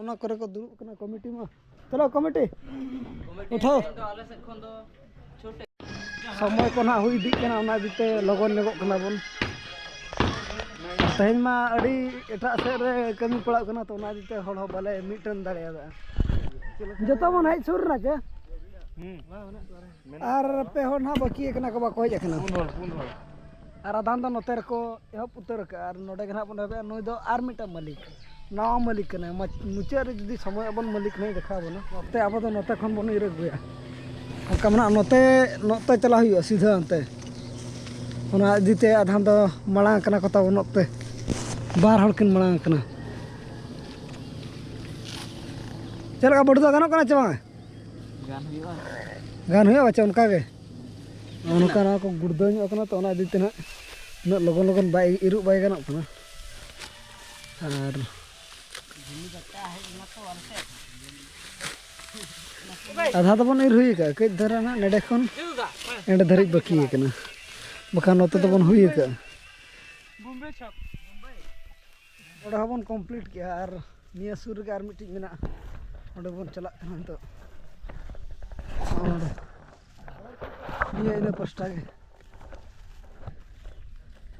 ᱚᱱᱟ ᱠᱚᱨᱮ ᱠᱚ ᱫᱩᱲᱩᱵ ᱠᱟᱱᱟ ᱠᱚᱢᱤᱴᱤ ᱢᱟ ᱪᱚᱞᱚ ᱠᱚᱢᱤᱴᱤ ᱩᱴᱷᱟᱣ ᱟᱞᱮ ᱥᱮᱫ ᱠᱷᱚᱱ ᱫᱚ ᱪᱷᱩᱴᱮ ᱥᱚᱢᱚᱭ ᱠᱚ ᱱᱟᱦᱟᱜ ᱦᱩᱭ ᱤᱫᱤᱜ ᱠᱟᱱᱟ ᱚᱱᱟ ᱤᱫᱤ ᱛᱮ ᱞᱚᱜᱚᱱ ᱧᱚᱜᱚᱜ ᱠᱟᱱᱟ ᱵᱚᱱ ᱛᱮᱦᱮᱧ ᱢᱟ ᱟᱹᱰᱤ ᱮᱴᱟᱜ ᱥᱮᱫ ᱨᱮ ᱠᱟᱹᱢᱤ ᱯᱟᱲᱟᱜ ᱠᱟᱱᱟ ᱛᱚ ᱚᱱᱟ ᱤᱫᱤ ᱛᱮ ᱦᱚᱲ ᱦᱚᱸ ᱵᱟᱞᱮ ᱢᱤᱫᱴᱮᱱ ᱫᱟᱲᱮᱭᱟᱫᱟ ᱡᱚᱛᱚ ᱵᱚᱱ ᱦᱮᱡ ᱥᱩᱨ ᱮᱱᱟ ᱪᱮ ᱟᱨ ᱯᱮ ᱦᱚᱲ ᱱᱟᱦᱟᱜ ᱵᱟᱹᱠᱤ ᱟᱠᱟᱱᱟ ᱠᱚ ᱵᱟᱠᱚ ᱦᱮᱡ ᱟᱠᱟᱱᱟ ᱯᱩᱱ ᱦᱚᱲ ᱯᱩᱱ ᱦᱚᱲ ᱟᱨ ᱟᱫᱷᱟᱱ ᱫᱚ ᱱᱚᱛᱮ ᱨᱮᱠᱚ ᱮᱦᱚᱵ ᱩᱛᱟᱹᱨ ᱟᱠᱟᱫᱼᱟ ᱟᱨ ᱱᱚᱰᱮ ᱜᱮ ᱱᱟᱦᱟᱜ ᱵᱚᱱ ᱮᱦᱚᱵᱮᱜᱼᱟ ᱱᱩᱭ ᱫᱚ ᱟᱨ ᱢᱤᱫᱴᱟᱝ ᱢᱟᱹᱞᱤᱠ ᱱᱟᱣᱟ ᱢᱟᱹᱞᱤᱠ ᱠᱟᱱᱟᱭ ᱢᱩᱪᱟᱹᱫ ᱨᱮ ᱡᱩᱫᱤ ᱥᱚᱢᱚᱭ ᱟᱵᱚᱱ ᱢᱟᱹᱞᱤᱠ ᱱᱟᱦᱟᱜ ᱫᱮᱠᱷᱟᱣ ᱵᱚᱱᱟ ᱱᱚᱛᱮ ᱟᱵᱚ ᱫᱚ ᱱᱚᱛᱮ ᱠᱷᱚᱱ ᱵᱚᱱ ᱤᱨ ᱟᱹᱜᱩᱭᱟ ᱚᱱᱠᱟ ᱢᱮᱱᱟᱜᱼᱟ ᱱᱚᱛᱮ ᱱᱚᱛᱮ ᱪᱟᱞᱟᱜ ᱦᱩᱭᱩᱜᱼᱟ ᱥᱤᱫᱷᱟᱹ ᱚᱱᱛᱮ ᱚᱱᱟ ᱤᱫᱤᱛᱮ ᱟᱫᱷᱟᱱ ᱫᱚ ᱢᱟᱲᱟᱝ ᱟᱠᱟᱱᱟ ᱠᱚ ᱛᱟᱵᱚᱱ ᱚᱠᱛᱮ ᱵᱟᱨ ᱦᱚᱲ ᱠᱤᱱ ᱢᱟᱲᱟᱝ ᱟᱠᱟᱱᱟ ᱪᱮᱫ ᱞᱮᱠᱟ ᱵᱟᱹᱲᱛᱤ ᱫᱚ ᱜᱟᱱᱚᱜ ᱠᱟᱱᱟ ᱥᱮ ᱵᱟᱝ ᱜᱟᱱ ᱦᱩᱭᱩᱜᱼᱟ ᱜᱟᱱ ᱦᱩᱭᱩᱜᱼᱟ ᱵᱟᱪᱟ ᱚᱱᱠᱟ ᱜᱮ ᱚᱱᱠᱟ ᱱᱚᱣᱟ ᱠᱚ ᱜᱩᱲᱫᱟᱹ ᱧᱚᱜ ᱠᱟᱱᱟ ᱛᱚ ᱚᱱᱟ ᱤᱫᱤ ᱛᱮ ᱱᱟᱜ ᱩᱱᱟᱹᱜ ᱞᱚᱜᱚᱱ ᱞᱚᱜᱚᱱ ᱵᱟᱭ ᱤᱨᱩᱜ ᱵᱟᱭ ᱜᱟᱱᱚᱜ ᱠᱟᱱᱟ ᱟᱨ ᱟᱫᱷᱟ ᱫᱚᱵᱚᱱ ᱤᱨ ᱦᱩᱭ ᱟᱠᱟᱫᱼᱟ ᱠᱟᱹᱡ ᱫᱷᱟᱨᱟ ᱱᱟᱜ ᱱᱮᱰᱮ ᱠᱷᱚᱱ ᱮᱸᱰᱮ ᱫᱷᱟᱹᱨᱤᱡ ᱵᱟᱹᱠᱤ ᱟᱠᱟᱱᱟ ᱵᱟᱠᱷᱟᱱ ᱱᱚᱛᱮ ᱫᱚᱵᱚᱱ ᱦᱩᱭ ᱟᱠᱟᱫᱼᱟ ᱚᱸᱰᱮ ᱦᱚᱸᱵᱚᱱ ᱠᱚᱢᱯᱞᱤᱴ ᱠᱮᱜᱼᱟ ᱟᱨ ᱱᱤᱭᱟᱹ ᱥᱩᱨ ᱨᱮᱜᱮ ᱟᱨ ᱢᱤᱫᱴᱤᱡ ᱢᱮᱱᱟᱜᱼᱟ ᱚᱸᱰᱮ ᱵᱚᱱ ᱪᱟᱞᱟᱜ ᱠᱟᱱᱟ ᱱᱤᱛᱚᱜ ᱚᱸᱰᱮ ᱱᱤᱭᱟᱹ ᱤᱱᱟᱹ ᱯᱟᱥᱴᱟ ᱜᱮ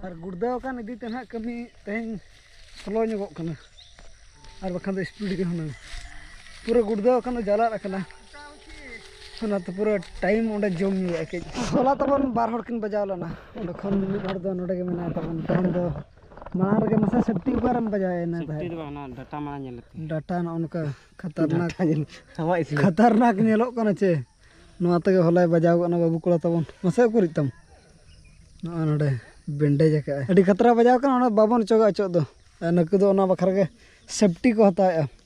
ᱟᱨ ᱜᱩᱲᱫᱟᱹᱣ ᱟᱠᱟᱱ ᱤᱫᱤ ᱛᱮ ᱱᱟᱦᱟᱜ ᱠᱟᱹᱢᱤ ᱛᱮᱦᱮᱧ ᱥᱞᱳ ᱧᱚᱜᱚᱜ ᱠᱟᱱᱟ ᱟᱨ ᱵᱟᱠᱷᱟᱱ ᱫᱚ ᱥᱯᱤᱰ ᱜᱮ ᱦᱩᱱᱟᱹᱝ ᱯᱩᱨᱟᱹ ᱜᱩᱲᱫᱟᱹᱣ ᱟᱠᱟᱱ ᱫᱚ ᱡᱟᱞᱟᱫ ᱟᱠᱟᱱᱟ ᱚᱱᱟᱛᱮ ᱯᱩᱨᱟᱹ ᱴᱟᱭᱤᱢ ᱚᱸᱰᱮ ᱡᱚᱢ ᱧᱩᱭᱟ ᱠᱟᱹᱡ ᱦᱚᱞᱟ ᱛᱟᱵᱚᱱ ᱵᱟᱨ ᱦᱚᱲ ᱠᱤᱱ ᱵᱟᱡᱟᱣ ᱞᱮᱱᱟ ᱚᱸᱰᱮ ᱠᱷᱚᱱ ᱢᱤᱫ ᱦᱚᱲ ᱫᱚ ᱱᱚᱰᱮ ᱜᱮ ᱢᱮᱱᱟᱭ ᱛᱟᱵᱚᱱ ᱛᱮᱦᱮᱧ ᱫᱚ ᱢᱟᱲᱟᱝ ᱨᱮᱜᱮ ᱢᱟᱥᱮ ᱥᱮᱯᱴᱤ ᱚᱠᱟᱨᱮᱢ ᱵᱟᱡᱟᱣᱮᱱᱟ ᱥᱮᱯᱴᱤ ᱫᱚ ᱵᱟᱝ ᱰᱟᱴᱟ ᱢᱟᱲᱟᱝ ᱧᱮᱞ ᱞᱮᱛᱮ ᱰᱟᱴᱟ ᱱᱚᱜᱼᱚ ᱱᱚᱝᱠᱟ ᱠᱷᱟᱛᱟᱨᱱᱟᱠ ᱟᱢᱟᱜ ᱤᱥᱤᱱ ᱠᱷᱟᱛᱟᱨᱱᱟᱠ ᱧᱮᱞᱚᱜ ᱠᱟᱱᱟ ᱪᱮ ᱱᱚᱣᱟ ᱛᱮᱜᱮ ᱦᱚᱞᱟᱭ ᱵᱟᱡᱟᱣ ᱜᱚᱫ ᱮᱱᱟ ᱵᱟᱹᱵᱩ ᱠᱚᱲᱟ ᱛᱟᱵᱚᱱ ᱢᱟᱥᱮ ᱩᱠᱩᱨᱤᱡ ᱛᱟᱢ ᱱᱚᱜᱼᱚ ᱱᱚᱰᱮ ᱵᱮᱱᱰᱮᱡ ᱟᱠᱟᱫᱼᱟᱭ ᱟᱹᱰᱤ ᱠᱷᱟᱛᱨᱟ ᱵᱟᱡᱟᱣ ᱠᱟᱱᱟ ᱚᱱᱟ ᱵᱟᱵᱚᱱ ᱚᱪᱚᱜᱟ ᱚᱪᱚᱜ ᱫᱚ ᱱᱩᱠᱩ ᱫᱚ ᱚᱱᱟ ᱵᱟᱠᱷᱨᱟ ᱜᱮ ᱥᱮᱯᱴᱤ ᱠᱚ ᱦᱟᱛᱟᱣᱮᱫᱼᱟ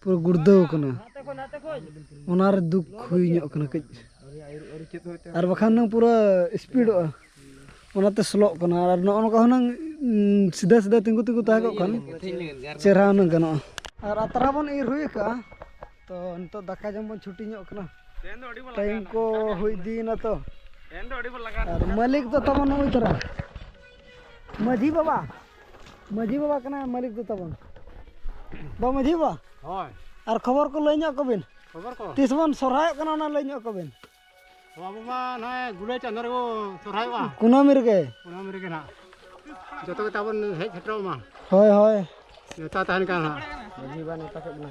ᱯᱩᱨᱟᱹ ᱜᱩᱲᱫᱟᱹᱣ ᱠᱟᱱᱟ ᱚᱱᱟᱨᱮ ᱫᱩᱠ ᱦᱩᱭ ᱧᱚᱜ ᱠᱟᱱᱟ ᱠᱟᱹᱡ ᱟᱨ ᱵᱟᱠᱷᱟᱱ ᱦᱩᱱᱟᱹᱝ ᱯᱩᱨᱟᱹ ᱥᱯᱤᱰᱚᱜᱼᱟ ᱚᱱᱟᱛᱮ ᱥᱞᱳᱜ ᱠᱟᱱᱟ ᱟᱨ ᱱᱚᱜᱼᱚ ᱱᱚᱝᱠᱟ ᱦᱩᱱᱟᱹᱝ ᱥᱤᱫᱷᱟᱹ ᱥᱤᱫᱷᱟᱹ ᱛᱤᱸᱜᱩ ᱛᱤᱸᱜᱩ ᱛᱟᱦᱮᱸ ᱠᱚᱜ ᱠᱷᱟᱱ ᱪᱮᱦᱨᱟ ᱦᱩᱱᱟᱹᱝ ᱜᱟᱱᱚᱜᱼᱟ ᱟᱨ ᱟᱛᱨᱟ ᱵᱚᱱ ᱤᱨ ᱦᱩᱭ ᱟᱠᱟᱫᱼᱟ ᱛᱚ ᱱᱤᱛᱚᱜ ᱫᱟᱠᱟ ᱡᱚᱢ ᱵᱚᱱ ᱪᱷᱩᱴᱤ ᱧᱚᱜ ᱠᱟᱱᱟ ᱴᱟᱭᱤᱢ ᱠᱚ ᱦᱩᱭ ᱤᱫᱤᱭᱮᱱᱟ ᱛᱚ ᱟᱨ ᱢᱟᱹᱞᱤᱠ ᱫᱚ ᱛᱟᱵᱚᱱ ᱱᱩᱭ ᱛᱚᱨᱟ ᱢᱟᱹᱡᱷᱤ ᱵᱟᱵᱟ ᱢᱟᱹᱡᱷᱤ ᱵᱟᱵᱟ ᱠᱟᱱᱟᱭ ᱢᱟᱹᱞᱤᱠ ᱫᱚ ᱛᱟᱵᱚᱱ ᱵᱟ ᱢᱟᱹᱡᱷᱤ ᱵᱟᱵᱟ ᱦᱳᱭ ᱟᱨ ᱠᱷᱚᱵᱚᱨ ᱠᱚ ᱞᱟᱹᱭ ᱧᱚᱜ ᱠᱚᱵᱤᱱ ᱠᱷᱚᱵᱚᱨ ᱠᱚ ᱛᱤᱥ ᱵᱚᱱ ᱥᱚᱨᱦᱟᱭᱚᱜ ᱠᱟᱱᱟ ᱚᱱᱟ ᱞᱟᱹᱭ ᱧᱚᱜ ᱠᱚᱵᱤᱱ ᱟᱵᱚ ᱢᱟ ᱱᱚᱜᱼᱚᱭ ᱜᱩᱞᱟᱹᱭ ᱪᱟᱸᱫᱳ ᱨᱮᱵᱚ ᱥᱚᱨᱦᱟᱭᱚᱜᱼᱟ ᱠᱩᱱᱟᱹᱢᱤ ᱨᱮᱜᱮ ᱠᱩᱱᱟᱹᱢᱤ ᱨᱮᱜᱮ ᱱᱟᱜ ᱡᱚᱛᱚ ᱜᱮ ᱛᱟᱵᱚᱱ ᱦᱮᱡ ᱥᱮᱴᱮᱨᱚᱜ ᱢᱟ ᱦᱳᱭ ᱦᱳᱭ ᱱᱮᱣᱛᱟ ᱛᱟᱦᱮᱱ ᱠᱟᱱᱟ ᱱᱟᱜ ᱢᱟᱹᱡᱷᱤ ᱵᱟᱵᱟ ᱱᱮᱣᱛᱟ ᱠᱮᱫ ᱵᱚᱱᱟ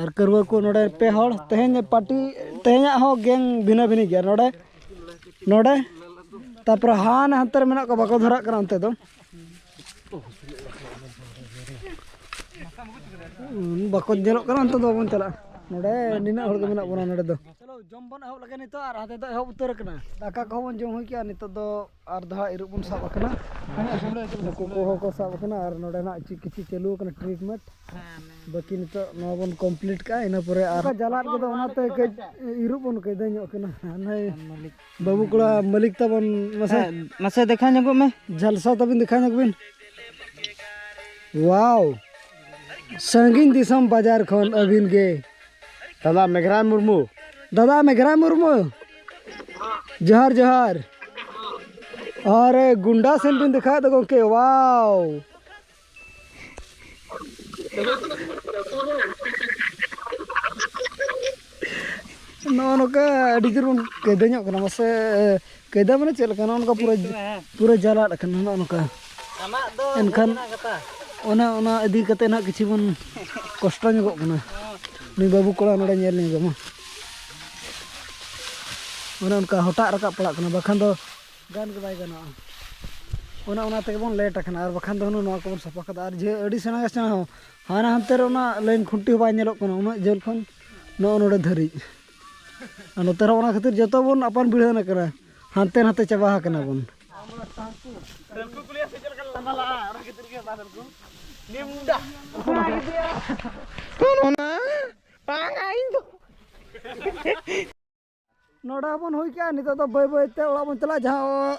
ᱟᱨ ᱠᱟᱹᱨᱣᱟᱹ ᱠᱚ ᱱᱚᱰᱮ ᱯᱮ ᱦᱚᱲ ᱛᱮᱦᱮᱧ ᱯᱟᱴᱤ ᱛᱮᱦᱮᱧᱟᱜ ᱦᱚᱸ ᱜᱮᱝ ᱵᱷᱤᱱᱟᱹ ᱵᱷᱤᱱᱟᱹ ᱜᱮᱭᱟ ᱱᱚᱰᱮ ᱱᱚᱰᱮ ᱛᱟᱯᱚᱨᱮ ᱦᱟᱱᱮ ᱦᱟᱱᱛᱮ ᱨᱮ ᱢᱮᱱᱟᱜ ᱠᱚᱣᱟ ᱵᱟᱠᱚ ᱫᱷᱚᱨᱟᱜ ᱠᱟᱱᱟ ᱚᱱᱛᱮ ᱫᱚ ᱵᱟᱠᱚ ᱧᱮᱞᱚᱜ ᱠᱟᱱᱟ ᱚᱱᱛᱮ ᱫᱚ ᱵᱟᱵᱚᱱ ᱪᱟᱞᱟᱜᱼᱟ ᱱᱚᱰᱮ ᱱᱤᱱᱟᱹᱜ ᱦᱚᱲ ᱜᱮ ᱢᱮᱱᱟᱜ ᱵᱚᱱᱟ ᱱᱚᱰᱮ ᱫᱚ ᱪᱚᱞᱚ ᱡᱚᱢ ᱵᱚᱱ ᱮᱦᱚᱵ ᱞᱮᱜᱮ ᱱᱤᱛᱚᱜ ᱟᱨ ᱦᱟᱱᱛᱮ ᱫᱚ ᱮᱦᱚᱵ ᱩᱛᱟᱹᱨ ᱠᱟᱱᱟ ᱫᱟᱠᱟ ᱠᱚᱦᱚᱸ ᱵᱚᱱ ᱡᱚᱢ ᱦᱩᱭ ᱠᱮᱜᱼᱟ ᱱᱤᱛᱚᱜ ᱫᱚ ᱟᱨ ᱫᱷᱟᱣ ᱤᱨᱚᱜ ᱵᱚᱱ ᱥᱟᱵ ᱟᱠᱟᱱᱟ ᱦᱟᱹᱠᱩ ᱠᱚᱦᱚᱸ ᱠᱚ ᱥᱟᱵ ᱟᱠᱟᱱᱟ ᱟᱨ ᱱᱚᱰᱮ ᱱᱟᱜ ᱪᱮᱫ ᱠᱤᱪᱷᱩ ᱪᱟᱹᱞᱩ ᱟᱠᱟᱱᱟ ᱴᱨᱤᱴᱢᱮᱱᱴ ᱵᱟᱹᱠᱤ ᱱᱤᱛᱚᱜ ᱱᱚᱣᱟ ᱵᱚᱱ ᱠᱚᱢᱯᱞᱤᱴ ᱠᱟᱜᱼᱟ ᱤᱱᱟᱹ ᱯᱚᱨᱮ ᱟᱨ ᱡᱟᱞᱟᱫ ᱠᱚᱫᱚ ᱚᱱᱟᱛᱮ ᱠᱟᱹᱡ ᱤᱨᱚᱜ ᱵᱚᱱ ᱠᱟᱹᱭᱫᱟᱹ ᱧᱚᱜ ᱠᱟᱱᱟ ᱱᱟᱭ ᱵᱟᱹᱵᱩ ᱠᱚᱲᱟ ᱢᱟᱹᱞᱤᱠ ᱛᱟᱵᱚᱱ ᱢᱟᱥᱮ ᱢᱟᱥᱮ ᱫᱮᱠᱷᱟ ᱧᱚᱜᱚᱜ ᱢᱮ ᱡᱷᱟᱞᱥᱟ ᱛᱟᱵᱤᱱ ᱫᱮᱠᱷᱟ ᱧᱚᱜ ᱵᱤᱱ ᱣᱟᱣ ᱥᱟᱺᱜᱤᱧ ᱫᱤᱥᱚᱢ ᱵᱟᱡᱟᱨ ᱠᱷᱚᱱ ᱟᱹᱵᱤᱱ ᱜᱮ ᱫᱟᱫᱟ ᱢᱮᱜᱷᱨᱟᱭ ᱢᱩᱨᱢᱩ ᱫᱟᱫᱟ ᱢᱮᱜᱷᱨᱟᱭ ᱢᱩᱨᱢᱩ ᱡᱚᱦᱟᱨ ᱡᱚᱦᱟᱨ ᱟᱨᱮ ᱜᱩᱱᱰᱟ ᱥᱮᱱ ᱵᱤᱱ ᱫᱮᱠᱷᱟᱣ ᱫᱚ ᱜᱚᱢᱠᱮ ᱣᱟᱣ ᱱᱚᱜᱼᱚ ᱱᱚᱝᱠᱟ ᱟᱹᱰᱤ ᱡᱳᱨ ᱵᱚᱱ ᱠᱟᱹᱭᱫᱟᱹ ᱧᱚᱜ ᱠᱟᱱᱟ ᱢᱟᱥᱮ ᱠᱟᱭᱫᱟ ᱢᱟᱱᱮ ᱪᱮᱫ ᱞᱮᱠᱟ ᱱᱚᱜᱼᱚ ᱯᱩᱨᱟᱹ ᱯᱩᱨᱟᱹ ᱡᱟᱞᱟᱫ ᱟᱠᱟᱱᱟ ᱱᱚᱜᱼᱚ ᱱᱚᱝᱠᱟ ᱮᱱᱠᱷᱟᱱ ᱚᱱᱟ ᱚᱱᱟ ᱤᱫᱤ ᱠᱟᱛᱮ ᱱᱟᱜ ᱠᱤᱪᱷᱩ ᱵᱚᱱ ᱠᱚᱥᱴᱚ ᱧᱚᱜᱚᱜ ᱠᱟᱱᱟ ᱱᱩᱭ ᱵᱟᱹᱵᱩ ᱠᱚᱲᱟ ᱱᱚᱰᱮ ᱧᱮᱞ ᱧᱚᱜ ᱢᱟ ᱚᱱᱮ ᱚᱱᱠᱟ ᱦᱚᱴᱟᱜ ᱨᱟᱠᱟᱵ ᱯᱟᱲᱟᱜ ᱠᱟᱱᱟ ᱵᱟᱠᱷᱟᱱ ᱫᱚ ᱜᱟᱱ ᱜᱮ ᱵᱟᱭ ᱜᱟᱱᱚᱜᱼᱟ ᱚᱱᱟ ᱚᱱᱟ ᱛᱮᱜᱮ ᱵᱚᱱ ᱞᱮᱴ ᱟᱠᱟᱱᱟ ᱟᱨ ᱵᱟᱠᱷᱟᱱ ᱫᱚ ᱱᱚᱣᱟ ᱠᱚᱵᱚᱱ ᱥᱟᱯᱷᱟ ᱠᱟᱫᱟ ᱟᱨ ᱡᱮ ᱟᱹᱰᱤ ᱥᱮᱬᱟ ᱥᱮᱬᱟ ᱦᱚᱸ ᱦᱟᱱᱟ ᱦᱟᱱᱛᱮ ᱨᱮ ᱚᱱᱟ ᱞᱟᱭᱤᱱ ᱠᱷᱩᱱᱴᱤ ᱦᱚᱸ ᱵᱟᱭ ᱧᱮᱞᱚᱜ ᱠᱟᱱᱟ ᱩᱱᱟᱹᱜ ᱡᱷᱟᱹᱞ ᱠᱷᱚᱱ ᱱᱚᱜᱼᱚ ᱱᱚᱰᱮ ᱫᱷᱟᱹᱨᱤᱡ ᱟᱨ ᱱᱚᱛᱮ ᱨᱮᱦᱚᱸ ᱚᱱᱟ ᱠᱷᱟᱹᱛᱤᱨ ᱡᱚᱛᱚ ᱵᱚᱱ ᱟᱯᱟᱱ ᱵᱷᱤᱲᱟᱹᱱ ᱟᱠᱟᱱᱟ ᱦᱟᱱᱛᱮ ᱱᱟᱛᱮ ᱪᱟᱵᱟ ᱟᱠᱟᱱᱟ ᱵᱚᱱ ᱱᱚᱰᱮ ᱦᱚᱸᱵᱚᱱ ᱦᱩᱭ ᱠᱮᱜᱼᱟ ᱱᱤᱛᱚᱜ ᱫᱚ ᱵᱟᱹᱭ ᱵᱟᱹᱭᱛᱮ ᱚᱲᱟᱜ ᱵᱚᱱ ᱪᱟᱞᱟᱜᱼᱟ ᱡᱟᱦᱟᱸ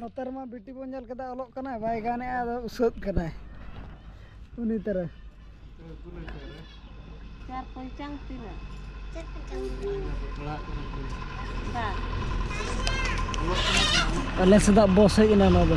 ᱱᱚᱛᱮ ᱨᱮᱢᱟ ᱵᱤᱴᱤ ᱵᱚᱱ ᱧᱮᱞ ᱠᱮᱫᱟ ᱚᱞᱚᱜ ᱠᱟᱱᱟᱭ ᱵᱟᱭ ᱜᱟᱱᱮᱜᱼᱟ ᱟᱫᱚ ᱩᱥᱟᱹᱫ ᱠᱟᱱᱟᱭ ᱩᱱᱤ ᱛᱟᱨᱟ ᱪᱟᱨ ᱯᱚᱧᱪᱟᱝ ᱛᱤᱱᱟᱹᱜ ᱟᱞᱮ ᱥᱮᱫᱟᱜ ᱵᱚᱥ ᱦᱮᱡ ᱮᱱᱟ ᱱᱚᱣᱟ ᱫᱚ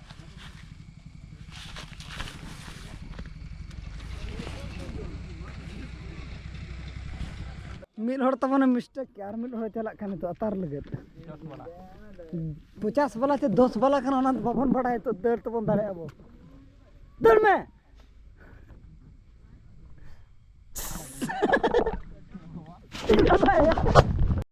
ᱢᱤᱫ ᱦᱚᱲ ᱛᱟᱵᱚᱱᱮ ᱢᱤᱥᱴᱮᱠ ᱠᱮᱫᱟ ᱟᱨ ᱢᱤᱫ ᱦᱚᱲᱮ ᱪᱟᱞᱟᱜ ᱠᱟᱱᱟ ᱱᱤᱛᱚᱜ ᱟᱛᱟᱨ ᱞᱟᱹᱜᱤᱫ ᱯᱚᱪᱟᱥ ᱵᱟᱞᱟ ᱥᱮ ᱫᱚᱥ ᱵᱟᱞᱟ ᱠᱟᱱᱟ ᱚᱱᱟ ᱫᱚ ᱵᱟᱵᱚᱱ ᱵᱟᱲᱟᱭᱟ ᱱᱤᱛᱚᱜ ᱫᱟᱹᱲ ᱛᱮᱵᱚᱱ ᱫᱟᱲᱮᱭᱟᱜᱼᱟ ᱵᱚ ᱫᱟᱹᱲ ᱢᱮ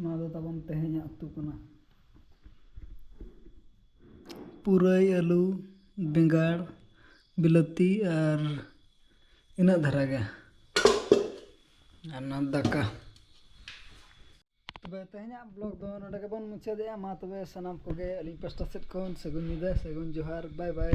ᱱᱚᱣᱟ ᱫᱚ ᱛᱟᱵᱚᱱ ᱛᱮᱦᱮᱧᱟᱜ ᱩᱛᱩ ᱠᱟᱱᱟ ᱯᱩᱨᱟᱹᱭ ᱟᱹᱞᱩ ᱵᱮᱸᱜᱟᱲ ᱵᱤᱞᱟᱹᱛᱤ ᱟᱨ ᱤᱱᱟᱹᱜ ᱫᱷᱟᱨᱟ ᱜᱮ ᱟᱨ ᱱᱚᱣᱟ ᱫᱟᱠᱟ ᱛᱚᱵᱮ ᱛᱮᱦᱮᱧᱟᱜ ᱵᱞᱚᱜ ᱫᱚ ᱱᱚᱰᱮ ᱜᱮᱵᱚᱱ ᱢᱩᱪᱟᱹᱫᱮᱜᱼᱟ ᱢᱟ ᱛᱚᱵᱮ ᱥᱟᱱᱟᱢ ᱠᱚᱜᱮ ᱟᱹᱞᱤᱧ ᱯᱟᱥᱴᱟ ᱥᱮᱫ ᱠᱷᱚᱱ ᱥᱟᱹᱜᱩᱱ ᱧᱤᱫᱟᱹ ᱥᱟᱹᱜᱩᱱ ᱡᱚᱦᱟᱨ ᱵᱟᱭ ᱵᱟᱭ